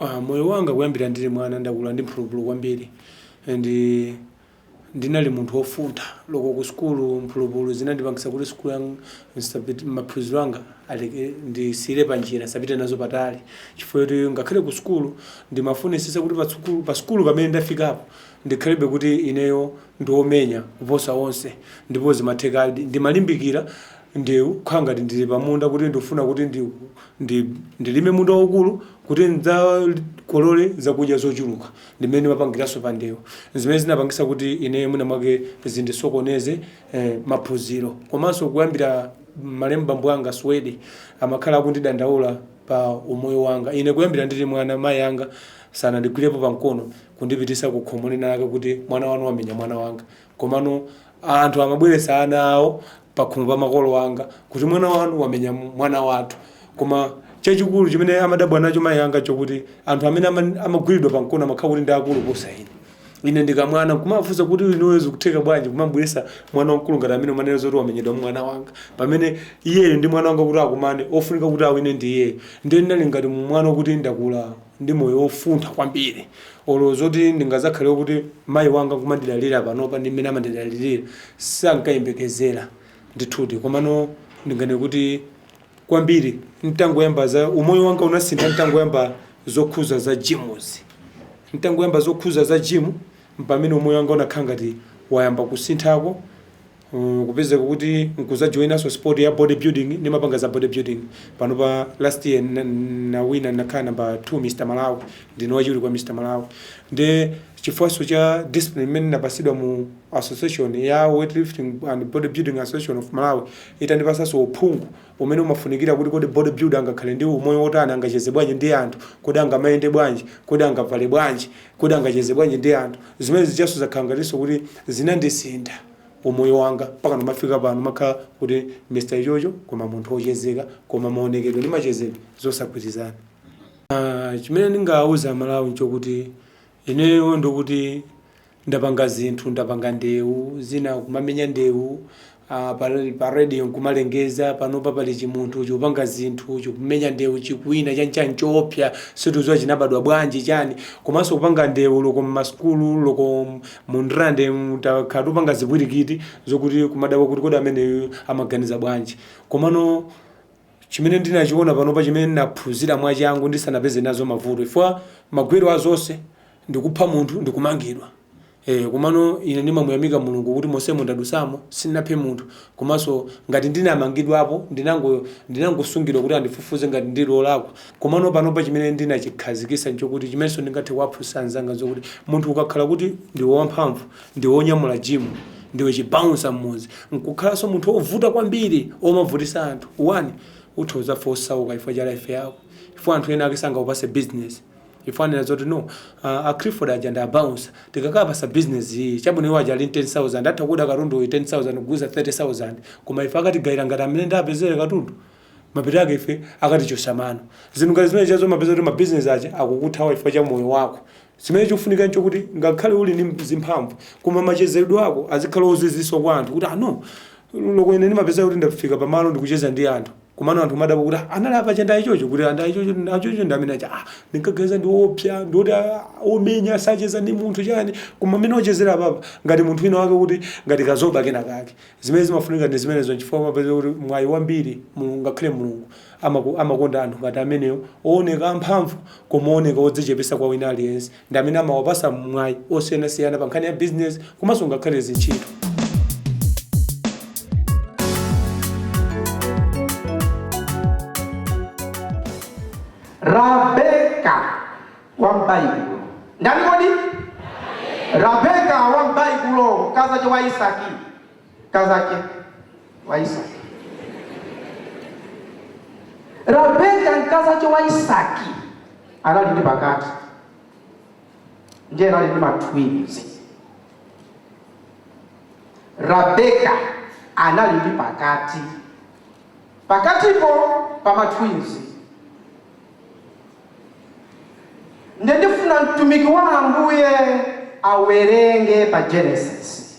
Ah, moyo wanga kuyambira ndili mwana ndakula ndi mphulupulu kwambiri and ndinali munthu wofuntha loko ku sukulu mphulupulu zinandipangisa kuti sukulu yanga maphunziro anga ndisiyire panjira nsapite nazo patali chifukwa choti ngakhale ku sukulu ndimafunisisa kuti pa sukulu pamene ndafikapo ndikhalebe kuti ineyo ndiomenya kuposa onse ndipo zimathekadi ndimalimbikira Ndewu kukhala ngati ndili pa munda kuti ndikufuna kuti ndilime munda waukulu kuti ndidzakolole zakudya zochuluka. Ndi mmene ndimapangiranso pa ndewu. N'zimene zinapangitsa kuti ineyo mwinamwake zindisokoneze maphunziro. Komanso kuyambira, malemu bambo anga, Suwedi, amakhala akundidandaula pa umoyo wanga. Ine kuyambira ndili mwana mayi anga sanandigwirepo pa mkono kundipititsa ku khomo linalake kuti mwana wanu wamenya mwana wanga. Komano anthu amabweretsa ana awo pakhomo pa makolo anga kuti mwana wanu wamenya mwana wathu. Koma chachikulu chimene amadabwa nacho mayi anga nchokuti anthu amene amagwiridwa pamkono amakhala kuti ndi akulu kuposa ine. Ine ndi kamwana nkumafunsa kuti inuyo zikutheka bwanji kumambweretsa mwana wamkulu ngati ameneyu kumanena zoti wamenyedwa ndi mwana wanga pamene iyeyo ndi mwana wanga kuti akumane ofunika kuti awine ndi iyeyo. Ndiye ndinali ngati mwana wokuti ndakula ndi moyo wofuntha kwambiri olo zoti ndingazakhale kuti mayi anga kumandidalira panopa ndi mmene amandidalirira sankayembekezera ndithudi komano ndinganene kuti kwambiri ntangoyamba za umoyo wanga unasintha ntangoyamba zokhuza za jimuzi ntangoyamba zokhuza za jimu mpamene umoyo wanga unakhala ngati wayamba kusinthako kupezeka kuti nkuzajoinanso sport ya body building ndimapanga za body building panopa last year nnawina nnakhala number 2 mr malawi ndine wachiwiri kwa mr malawi nde chifukwanso cha discipline imene ndinapasidwa mu association ya weightlifting and body building association of malawi itandipasanso uphungu umene umafunikira kuti kodi bodybuilder angakhale ndi umoyo wotani, angacheze bwanji ndi anthu, kodi angamayende bwanji, kodi angavale bwanji, kodi angacheze bwanji ndi anthu. Zimene izizonso zakhala ngatinso kuti zinandisintha umoyo wanga mpaka ndimafika pano makhala kuti Mr. Ichocho koma munthu wochezeka koma maonekedwe ndi machezedwe zosagwirizana. Chimene ndingawuza Amalawi nchokuti ineyo ndikuti Ndapanga zinthu, ndapanga ndewu zina, kumamenya ndewu pa radio nkumalengeza, panopa pali chimunthu chikupanga zinthu, chikumenya ndewu, chikuwina, chani chani choopsa, sitikudziwa chinabadwa bwanji chani, komanso kupanga ndewu loko m'masukulu, loko mu Ndirande mu, takhala tikupanga zipwirikiti zokuti kumadabwa kuti kodi ameneyuyu amaganiza bwanji, komano. Chimene ndinachiona panopa chimene ndinaphunzira mwachangu ndisanapeze nazo mavuto chifukwa magwero a zonse ndi kupha munthu ndi kumangidwa ee komano ine ndimamuyamika Mulungu kuti monsemo ndadusamo sindinaphe munthu komanso ngati ndinamangidwapo ndinangosungidwa kuti andifufuze ngati ndili olakwa komano panopa chimene ndinachikhazikisa nchokuti chimenso ndingathe kuwaphunzisa anzanga nzokuti munthu ukakhala kuti ndiwe wamphamvu ndiwe onyamula gym ndiwe chi bouncer m'muzi nkukhalanso munthu ovuta kwambiri omavutisa anthu iwe utha kuzafa osauka chifukwa cha life yako chifukwa anthu enaake sangakupase business chifukwa amanena zoti no uh, a Clifford aja ndi abouncer tikakawapasa business iyi chabwino iwo aja ali 10000 atakhuza katundu uyu 10000 kugulisa 30000 koma ife akatigayira ngati mmene ndapezere katundu mapeto ake ife akatichosa mano zinthu ngati zimenezo umapeza kuti mabizinesi aja akukuthawa chifukwa cha moyo wako Chimene chikufunika nchokuti ngakhale uli ndi zimphamvu koma machezedwe ako azikhala ozizisa kwa anthu kuti ah no loko ine ndimapezeka kuti ndafika pa malo ndikucheza ndi anthu komano anthu kumadabwa kuti ah anali apa aja ndi ayichocho kuti ah ndi ayichocho ndi amene aja ah ndinkaganiza ndi oopsa ndi oti ah, omenya sacheza ndi munthu chani koma mmene akuchezera apapa ngati munthu wina wake kuti ngati kazoba kena kake zimene zimafunika ndi zimenezo nchifukwa umapezeka kuti mwayi wambiri mulungu ngakhale mulungu Amakonda anthu ngati amenewo, owoneka amphamvu koma owoneka odzichepesa kwa wina aliyense, ndi amene amawapasa mwayi osiyanasiyana pa nkhani ya bizinesi komanso ngakhale zintchito. Rabeka wa m'Baibulo. Ndani kodi? Rabeka wa m'Baibulo, mkazache wa Isaki. mkazake wa Isaki. Rabeka mkazache wa Isaki anali ndi pakati ndiye anali ndi matwins. Rabeka anali ndi pakati pakatipo pa matwins. Ndiye ndifuna mtumiki wa Ambuye awerenge pa Genesis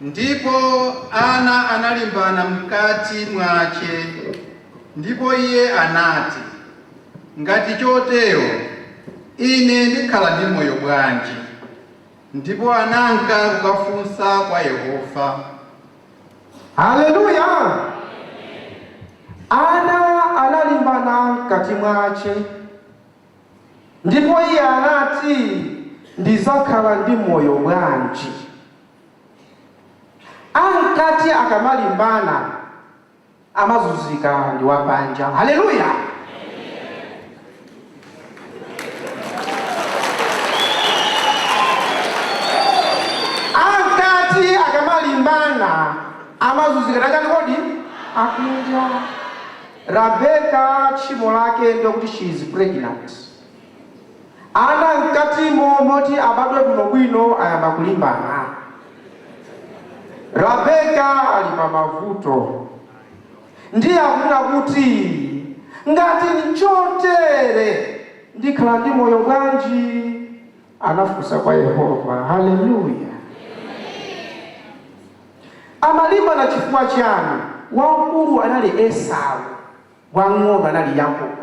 Ndipo ana analimbana mkati mwace, ndipo iye anati, Ngati cotero ine ndikhala ndi moyo bwanji? ndipo ananka kukafunsa kwa Yehova. Haleluya! Ana analimbana mkati mwace, ndipo iye anati, Ndizakhala ndi moyo bwanji? Amkati akamalimbana amazunzika ndi wapanja hallelujah amen amkati akamalimbana amazunzika ndi achani kodi akunja rabeka tchimo lake ndi lokuti she is pregnant Ana mkatimo mmalo moti abadwe bwinobwino ayamba kulimbana. Rabeka ali pamavuto. Ndiye akunena kuti, Ngati n'chotere, ndikhala ndi moyo bwanji? Anafunsa kwa Yehova. Haleluya! Amalimbana chifukwa chiyani? Wamkulu anali Esau. wamng'ono anali Yakobo.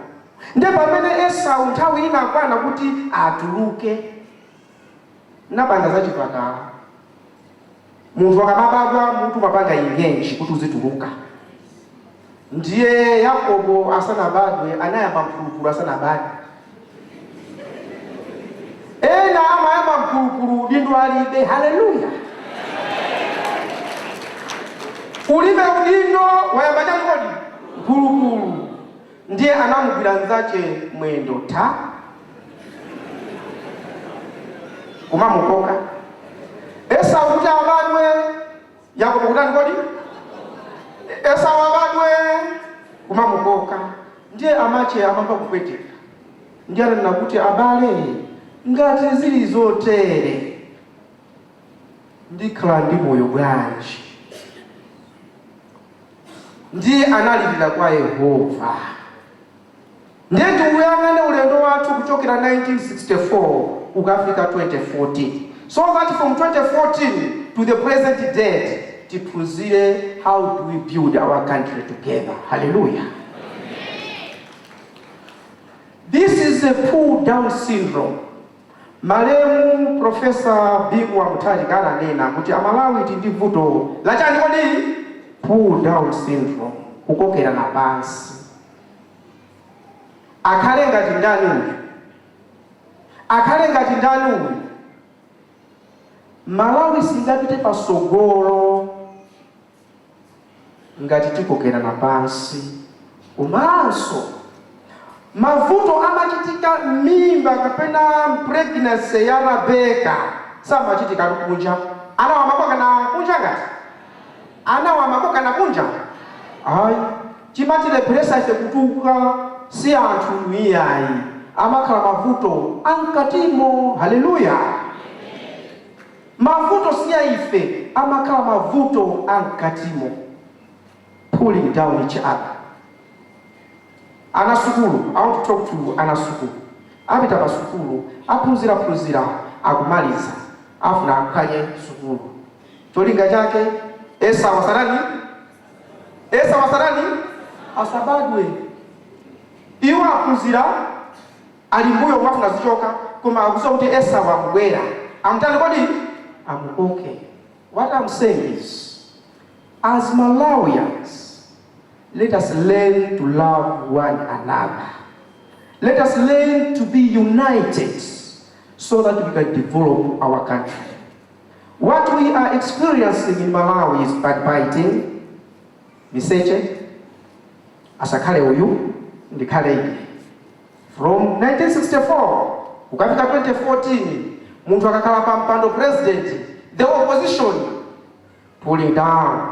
Ndiye pamene Esau nthawi inakwana kuti atuluke, ndapanga za chipatala. Munthu akamabadwa mutu umapanga engage kuti uzituluka. Ndiye Yakobo asanabadwe anayamba mphulupulu asanabadwe. Ena amayamba mphulupulu udindo alibe. Hallelujah! Ulibe udindo wayamba chani kodi? Mphulupulu. Ndiye anamugwira nzache mwendo kumamukoka Esau kuti abadwe Yakobo kutani kodi? Esau abadwe kumamukoka ndiye amache amamva kupweteka ndiye ananena kuti abale ngati zili zotere ndikhala ndi moyo bwanji ndiye analilira kwa Yehova. Ndiye tiuyang'ane ulendo wathu kuchokera 1964 kukafika 2014 so that from 2014 to the present date tiphunzire how do we build our country together. Hallelujah. This is a pull down syndrome. Malemu Profesa Bingu wa Mutharika ananena kuti Amalawi tili ndi vuto lachani kodi? Pull down syndrome, kukokerana pansi. Akhale ngati ndani uyu? Akhale ngati ndani uyu? Malawi singapite patsogolo ngati tikokerana pansi komanso mavuto amachitika m'mimba kapena pregnancy ya rabeka samachitika kunja anawa amakokana kunja ngati anawa amakokana kunja ayi Chimatilepheresa ife kutukuka si anthu iyayi, amakhala mavuto a mkatimo. Hallelujah! Amen! Mavuto si a ife, amakhala mavuto a mkatimo. Pulling down each other. Ana sukulu, I want to talk to ana sukulu. Apita pa sukulu, aphunzira phunzira, akumaliza, afuna aphwanye sukulu. Cholinga chake? Esau asatani? Esau asatani asabadwe. Iwo aphunzira ali mbuyo kumafuna azichoka, koma akuziwa kuti Esau akubwera. Amutani kodi? Amukoke. What I'm saying is, as Malawians, let us learn to love one another. Let us learn to be united so that we can develop our country. What we are experiencing in Malawi is backbiting, miseche, asakhale uyu ndikhale ine. From 1964 kukafika 2014 munthu akakhala pa mpando president the opposition pulling down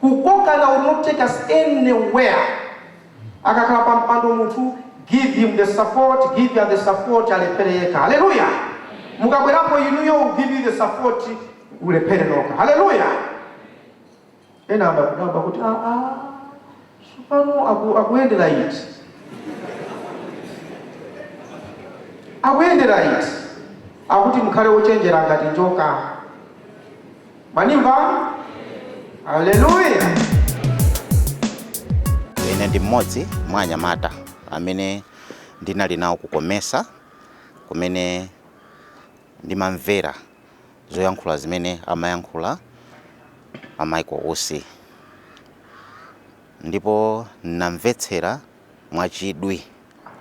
Kukokana will not take us anywhere. Akakhala pa mpando munthu give him the support, give her the support alephere yekha. Hallelujah. Mukabwerapo inuyo we'll give you the support mulephere nokha. Hallelujah. Ena akudabwa kuti ah ah Tsopano aku, akuyendera iti? Akuyendera iti? Akuti mukhale ochenjera ngati njoka. Mwandimva? Haleluya! Ine ndi mmodzi mwa anyamata amene ndinali nawo ku Comesa kumene Ndimamvera zoyankhula zimene amayankhula a Michael Usi ndipo namvetsera mwachidwi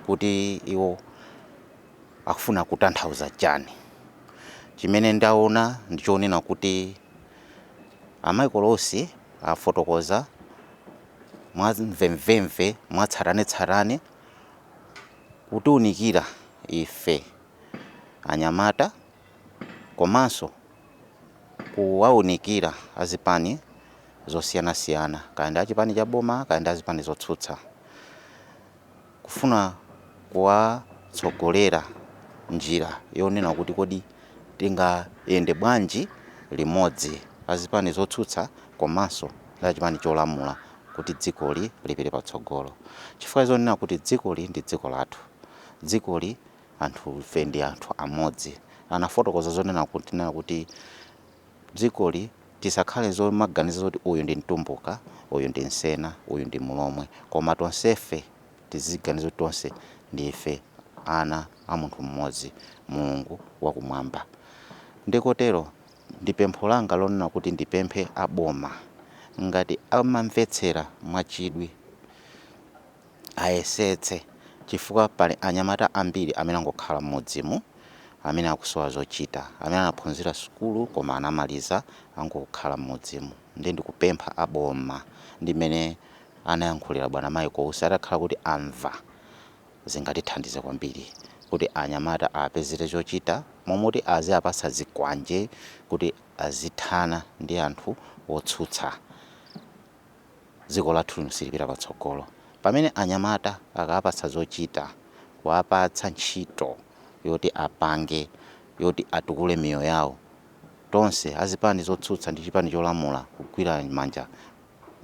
kuti iwo akufuna kutanthauza chani. Chimene ndaona ndi chonena kuti a Michael Usi afotokoza mwa mvemvemve, mwatsatanetsatane kutiunikira ife. anyamata komanso kuwaunikira azipani zosiyanasiyana kaya ndi achipani cha boma kaya ndi azipani zotsutsa kufuna kuwatsogolera njira yonena kuti kodi tingayende bwanji limodzi azipani zotsutsa komanso ndi achipani cholamula kuti dzikoli lipite patsogolo chifukwa zonena kuti dzikoli ndi dziko lathu dzikoli anthufe ndi anthu amodzi. Anafotokoza zonena kuti nena kuti dzikoli tisakhale zomaganiza zoti uyu ndi mtumbuka, uyu ndi msena, uyu ndi mlomwe koma tonsefe tiziganiza kuti tonse ndife ana a munthu mmodzi Mulungu wakumwamba. Nde kotero ndi pempho langa lonena kuti ndipemphe a boma ngati amamvetsera mwachidwi. ayesetse chifukwa pali anyamata ambiri amene angokhala m'mudzimu amene akusowa zochita amene anaphunzira sukulu koma anamaliza angokhala m'mudzimu nde ndikupempha a boma ndi mmene anayankhulira bwana Michael Usi atakhala kuti amva zingatithandize kwambiri kuti anyamata apezere chochita momoti aziapatsa zikwanje kuti azithana ndi anthu otsutsa. dziko lathu lino silipita patsogolo. Pamene anyamata akawapatsa zochita, kuwapatsa ntchito yoti apange, yoti atukule miyoyo yawo, tonse azipani zotsutsa ndi chipani cholamula kugwira manja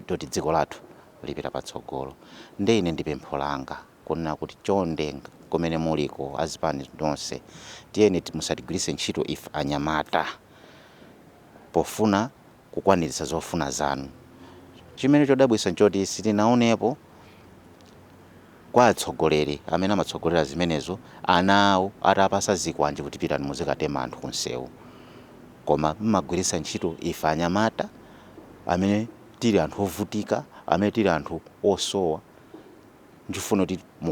toti dziko lathu lipita patsogolo. Nde ine ndi pempho langa kunena kuti chonde kumene muliko azipani zonse tiyeni musatigwiritse ntchito ife anyamata pofuna. kukwaniritsa zofuna zanu. Chimene chodabwitsa nchoti sitinaonepo kwa atsogoleri amene amatsogolera zimenezo ana awo atawapasa zikwanje kuti pitani muzikatema anthu kunsewu koma mmagwiritsa ntchito ife anyamata amene tili anthu ovutika amene tili anthu osowa. Nkufuna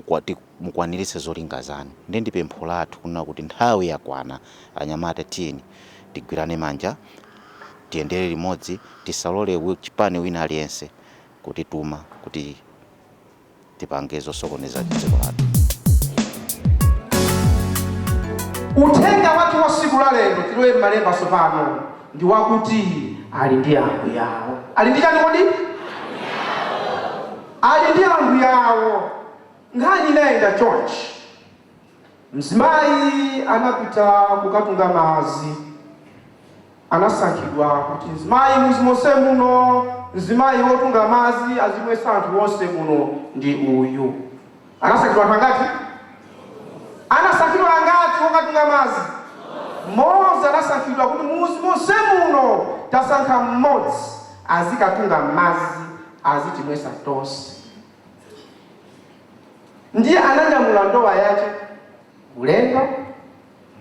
kuti mukwaniritse zolinga zanu nde ndi pempho lathu kunena kuti nthawi yakwana anyamata tiyeni tigwirane manja tiyendere limodzi tisalole chipani wina aliyense kutituma kuti tipange zosokoneza dziko lathu. Uthenga wathu wa tsiku la lero tilowe mmalemba tsopano ndi wakuti ali ndi ambuye awo. Ali ndi chani kodi? Ali ndi ambuye awo. Nkhani inayenda chonchi. Mzimayi anapita kukatunga madzi. Anasankhidwa kuti mzimayi mudzi monse muno, mzimayi wotunga madzi azimwetsa anthu onse muno ndi uyu. Anasankhidwa anthu angati? Anasankhidwa angati wokatunga madzi? Mmodzi anasankhidwa kuti mudzi monse muno tasankha mmodzi azikatunga madzi azitimwesa tonse ndiye ananyamula ndowa yache ulendo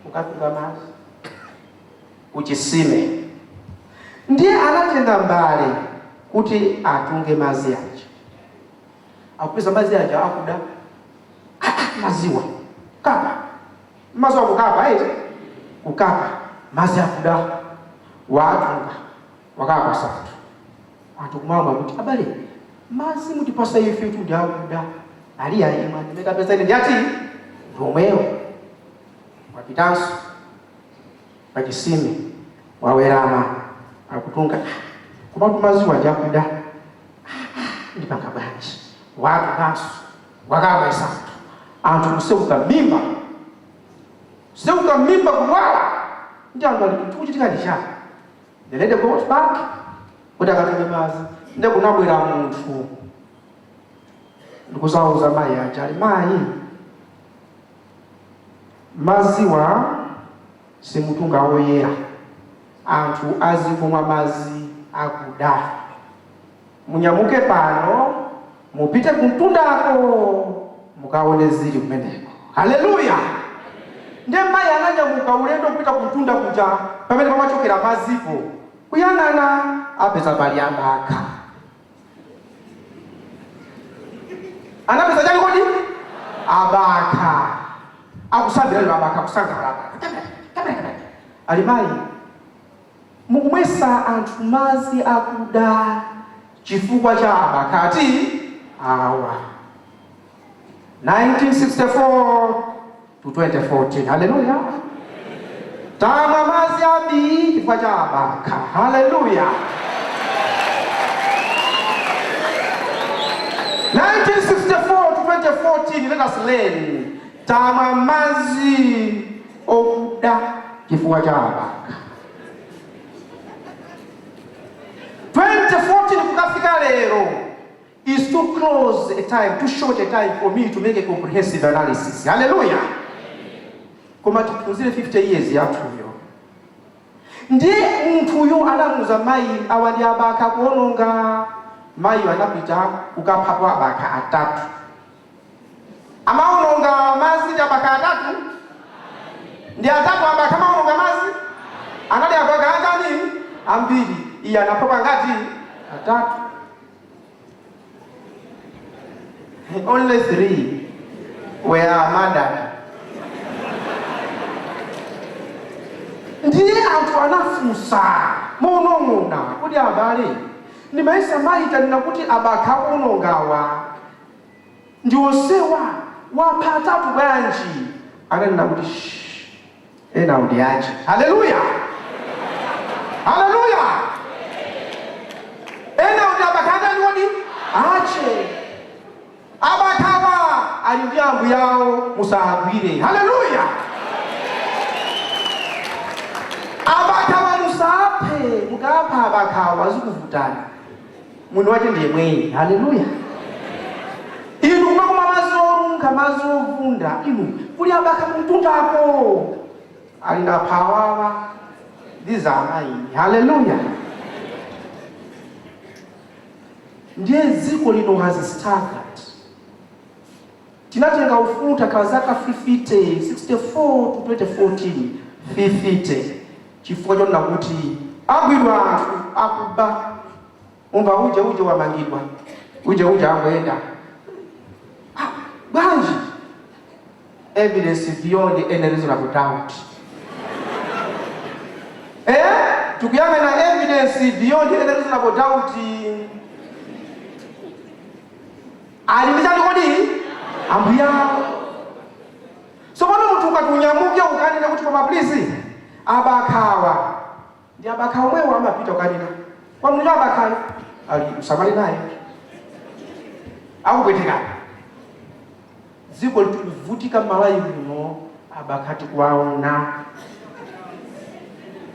kukatunga madzi kuchitsime ndiye anatenga mbale kuti atunge madzi yache akupeza madzi aja akuda madziwa kapa madziwa kukapa eti kukapa madzi akuda watunga Wakapatsa anthu anthu kumamwa akuti abale madzi mutipasa ifetu ndi akuda ali ayi imwani amene tapeza ine ndi ati ndi omwewo wapitanso pachitsime wawerama akutunga ah komatu madziwa ndi akuda ah ndipanga bwanji watunganso wakamwetsa anthu anthu kutseguka mmimba kutseguka mmimba kudwala ndi anthu ali chikuchitika ndi chani The lady goes back kuti akatunge madzi. Nde kunabwera munthu ndikudzauza mayi aja ali mayi madziwa simutunga woyera anthu azikumwa madzi akuda munyamuke pano Mupite kumtundako mukaone zili kumeneko. Haleluya! Ndiye mayi ananyamuka ulendo kupita kumtunda kuja pamene pamachokera madzipo. Kuyang'ana, apeza pali abakha. Anapeza chani kodi? Abakha. Akusambira abakha, akusangalala abakha. Chakata, chakata, chakata. Ali mayi. Mukumwetsa anthu madzi akuda chifukwa cha abakhatu awa. 1964-2014 hallelujah tamwa madzi abii chifukwa cha abakha hallelujah 1964-2014 let us learn tamwa madzi okuda chifukwa cha abakha. 2014 kukafika lero is too close a time, too short a time for me to make a comprehensive analysis. Hallelujah. Koma tiphunzire 50 years yathuyo. Ndiye munthuyo anamuuza mayi awa ndi abakha akuononga. Mayiyo anapita kukaphapo abakha atatu. amaononga mazi abakha atatu ndi atatu abakha amaononga mazi anali abakha atani ambiri iye anaphapo angati atatu only three were murdered ndiye anthu anafunsa monong'ona kuti abale ndimayesa mayitanira kuti abakha onongawa ndi onsewa wapha atatu bwanji ananena kuti shh enawo ndi ache hallelujah hallelujah enawo ndi abakha atani kodi ache abakhawa ali ndi ambuyawo musagwire hallelujah abakhawa musaphe mukapha abakhawa zikuvutani Mwini wache ndi yemweyi. Haleluya! Inu kumakamwa madzi onunkha, madzi ovunda, inu, kuli abakha kumtundako, ali na phawawa, these are mine. Haleluya! Ndiye dziko lino has staggered. Tinatenga ufulu takhala zaka fifite, 64 to 2014, fifite chifukwa chonena kuti agwidwa anthu akuba umva uje uje wamangidwa uje uje angoyenda ah bwanji evidence beyond any reasonable doubt eh tikuyang'ana evidence beyond any reasonable doubt ali ndi chani kodi ambuyao sopano munthu ukati unyamuke ukanene kuti koma please abakhawa ndi abakha omwewo amapita ukanena kwa munthu abakhayo ali usamale naye akupweteka dziko likuvutika Malawi muno abakha tikuwaona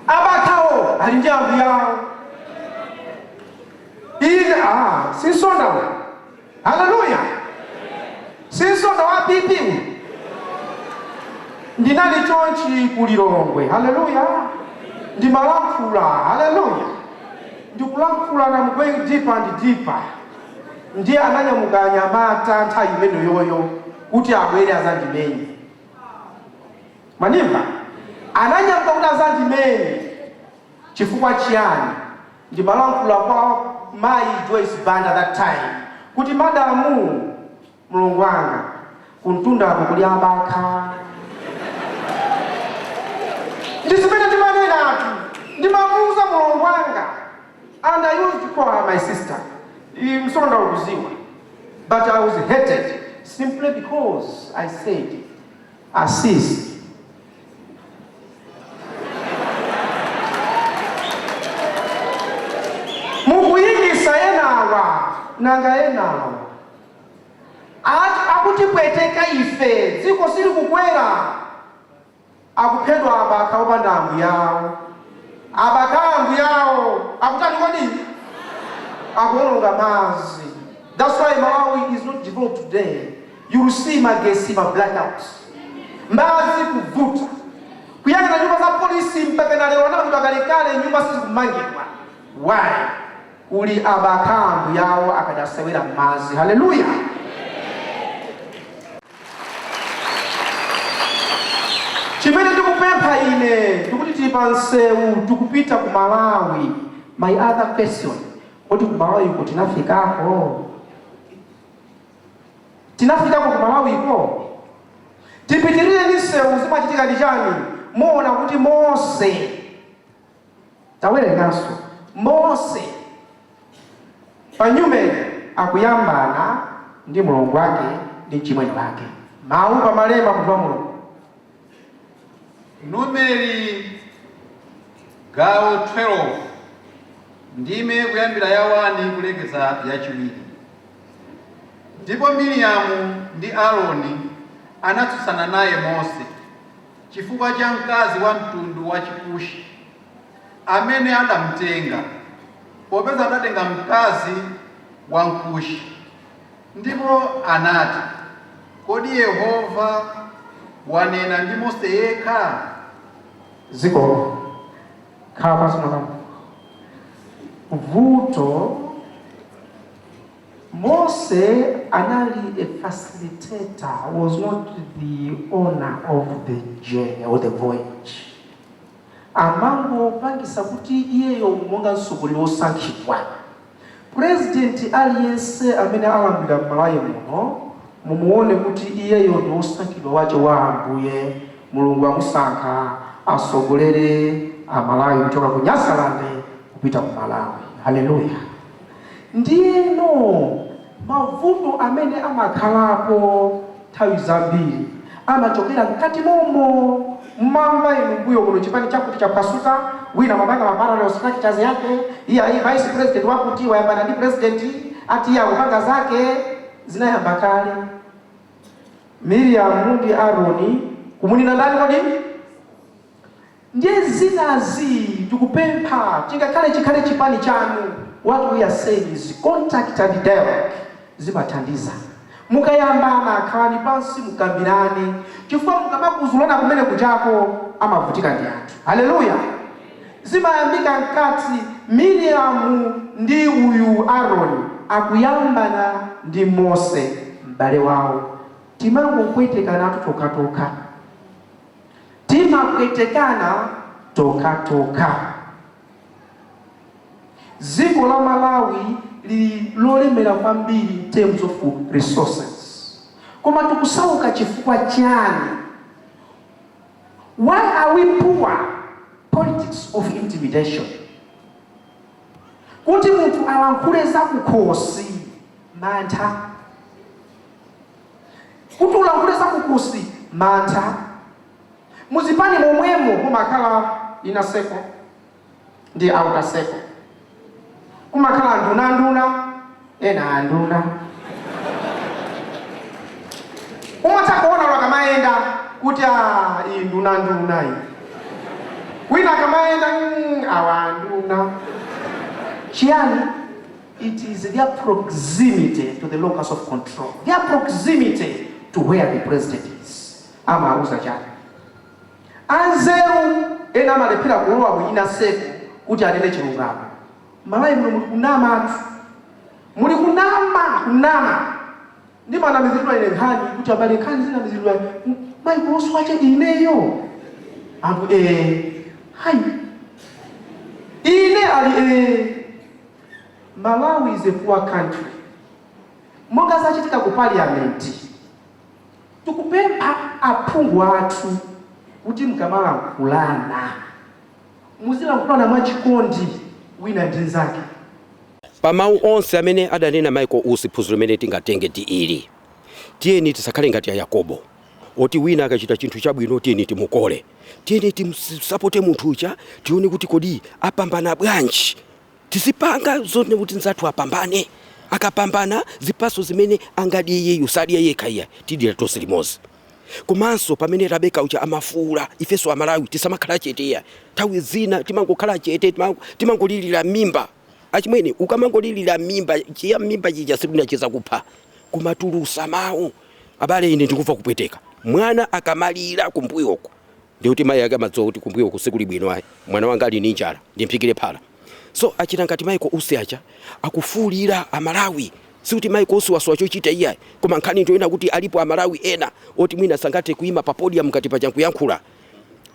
abakhawo ali ndi ambuyao Ine a si Msonda uyu. Haleluya! Si Msonda wa PP uyu. Ndinali chonchi ku Lilongwe. Haleluya! Ndimalankhula. Haleluya! Ndikulankhula and I'm going deeper and deeper. Ndiye ananyamuka anyamata nthawi imeneyoyo kuti abwere azandimenye. Mwandimva ananyamuka kuti azandimenye chifukwa chiyani? Ndimalankhula kwa mayi Joyce Banda that time kuti madamu, mlongo wanga, kumtundaku kuli abakha. Ndizimene ndimanenatu, ndimamuuza mlongo wanga and I used to call her my sister, Msonda ukuziwa, but I was hated simply because I said. Asisi. mukuimitsa enawa nanga enawa akutipweteka ife dziko silikukwera akuphedwa abakha opanda ambuyawo abakha ambuyawo akutani kodi akuononga mazi that's why malawi is not developed today You'll see magesi ma blackout, madzi kuvuta, kuyang'ana nyumba za police mpakana lero anamangidwa kalekale nyumba sizikumangidwa why? kuli abakha ambuyao akadasewera mmadzi hallelujah chimene ndikupempha ine ndikuti tili pa msewu tikupita ku Malawi my other question kodi ku Malawiko tinafikako? tinafikako ku malawiko tipitirire ndi msewu zimachitika ndi chani muona kuti mose tawerenganso mose pa nyumeni akuyambana ndi mulungu wake ndi mchimwene wake mawu pamalemba munthu wa mulungu Numeri, gawo 12, ndime kuyambira ya 1 kulekeza ya chiwiri. Ndipo Miriamu ndi Aroni anatsutsana naye Mose chifukwa cha mkazi wa mtundu wa Chikushi amene adamtenga, popeza adatenga mkazi wa Mkushi. Ndipo anati, Kodi Yehova wanena ndi Mose yekha? Zikomo. Khala pansi, mwana wanga. Vuto, Mose anali a facilitator, was not the owner of the journey or the voyage. amangopangisa kuti iyeyo monga mtsogoleri wosankhidwa. President aliyense amene alamulira mMalawi muno mumuone kuti iyeyo ndi wosankhidwa wache wa Ambuye Mulungu amusankha atsogolere aMalawi kuchoka ku Nyasaland kupita ku Malawi. Hallelujah! Ndiyeno mavuto amene amakhalapo nthawi zambiri amachokera mkati mommo. Mumamva inu mmbuyo kuno, Chipani chakuti chaphwasuka, wina amapanga ma parallel structures yake, iyayi, vice president wakuti wayambana ndi president, ati iye akupanga zake. Zinayamba kale. Miriamu ndi Aroni, kumunena ndani kodi? Ndiye zinazi tikupempha chingakhale chikhale chipani chanu what we are saying is contact and dialogue zimathandiza. Mukayambana khalani pansi mukambirane chifukwa mukamakuzulana kumene kujako amavutika ndi anthu. Hallelujah! Zimayambika mkati Miriam ndi uyu Aaron akuyambana ndi Mose m'bale wawo timangopwetekanatu tokhatokha. Timapwetekana tokhatokha. Dziko la Malawi lili lolemera kwambiri in terms of resources koma tikusauka chifukwa chani? Why are we poor? Politics of intimidation. Kuti munthu alankhule zakukhosi, mantha. kuti ulankhule za kukhosi mantha muzipani momwemo mumakhala inner circle ndi outer circle kumakhala nduna nduna ena anduna umatha kuona akamayenda kuti a iyi nduna nduna iyi wina akamayenda "Mm, awa nduna chiyani It is their proximity to the locus of control, their proximity to where the president is. Amawuza chani? Anzeru ena amalephera kulowa mu inner circle kuti anene chilungamo. M'Malawi muno muli kunamatu. Muli kunama, kunama. Ndimanamiziridwa ine nkhani kuti abale nkhani zinamiziridwa Michael Usi chete ineyo. Anthu ee. Hayi. Ine ali ee. Malawi is a poor country monga zachitika ku parliament tikupempha aphungu athu kuti mkamalankhulana muzilankhulana mwa chikondi wina ndi nzake. Pa mau onse amene adanena Michael Usi phunziro limene tingatenge ndi ili, tiyeni tisakhale ngati a Yakobo oti wina akachita chinthu chabwino tiyeni timukole, tiyeni timsapote munthu uja tione kuti kodi apambana bwanji Tizipanga zoona kuti nzathu apambane. Akapambana zipatso zimene angadye iyeyo sadya yekha iyayi tidyera tonse limodzi. Komanso pamene Rabecca ujha amafuula ifenso Amalawi tisamakhala chete iyayi. Nthawi zina timangokhala chete timangolilira mmimba. Achimwene ukamangolilira mmimba cha mmimba chija si uja chizakupha. Kumatulusa mau. Abale ine ndikumva kupweteka mwana akamalira kumbuyo uko. ndiye kuti mayi ake amadziwa kuti kumbuyo uku sikuli bwino ayi mwana wanga ali ndi njala ndimphikire phala so akachita ngati Michael Usi aja akufuulira Amalawi sikuti Michael Usi wasowa chochita iyayi koma nkhani ndi yoyena kuti alipo Amalawi ena oti mwina sangathe kuima pa podium ngati paja nkuyankhula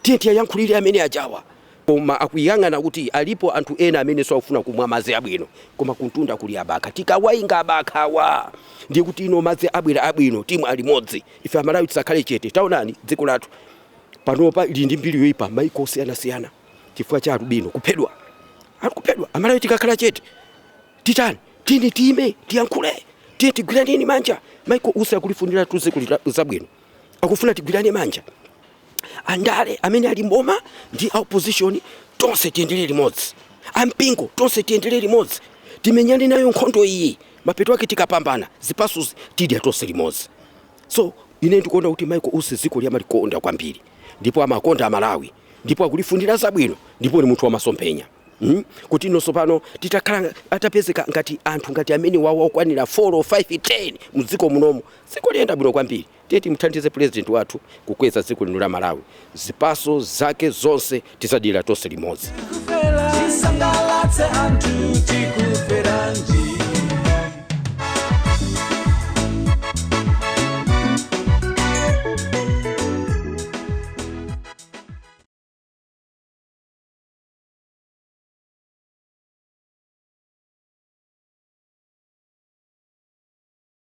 tiye tiwayankhulire amene ajawa koma akuyang'ana kuti alipo anthu ena amenenso akufuna kumwa madzi abwino, koma kumtunda kuli abakha. Tikawainga abakhawa, ndiye kuti ino madzi abwera abwino, timwa limodzi. Ife Amalawi tisakhale chete. Taonani dziko lathu panopa lili ndi mbiri yoipa m'mayiko osiyanasiyana chifukwa cha alubino kuphedwa. Anthu kuphedwa. Amalawi tikakhala chete titani? Tiyeni tiime tiyankhule, tiyeni tigwirane manja. Michael Usi akulifuniratu dziko ili zabwino, akufuna tigwirane manja. andale amene ali mboma ndi a opposition tonse tiyendere limodzi ampingo tonse tiyendere limodzi timenyane nayo nkhondo iyi mapeto ake tikapambana zipaso tidya tonse limodzi so ine ndikuona kuti Michael Usi dziko ili amalikonda kwambiri ndipo amakonda Amalawi ndipo akulifunira zabwino ndipo ni munthu wamasomphenya Mm? kuti ifenso pano titakhala atapezeka ngati anthu ngati amenewawa okwanira 4 or 5 10 mdziko munomo dziko ili liyenda bwino kwambiri Tiye timuthandize president wathu kukweza dziko lino la Malawi zipaso zake zonse tizadyera tonse limodzi. Tisangalatse anthu tikuferanji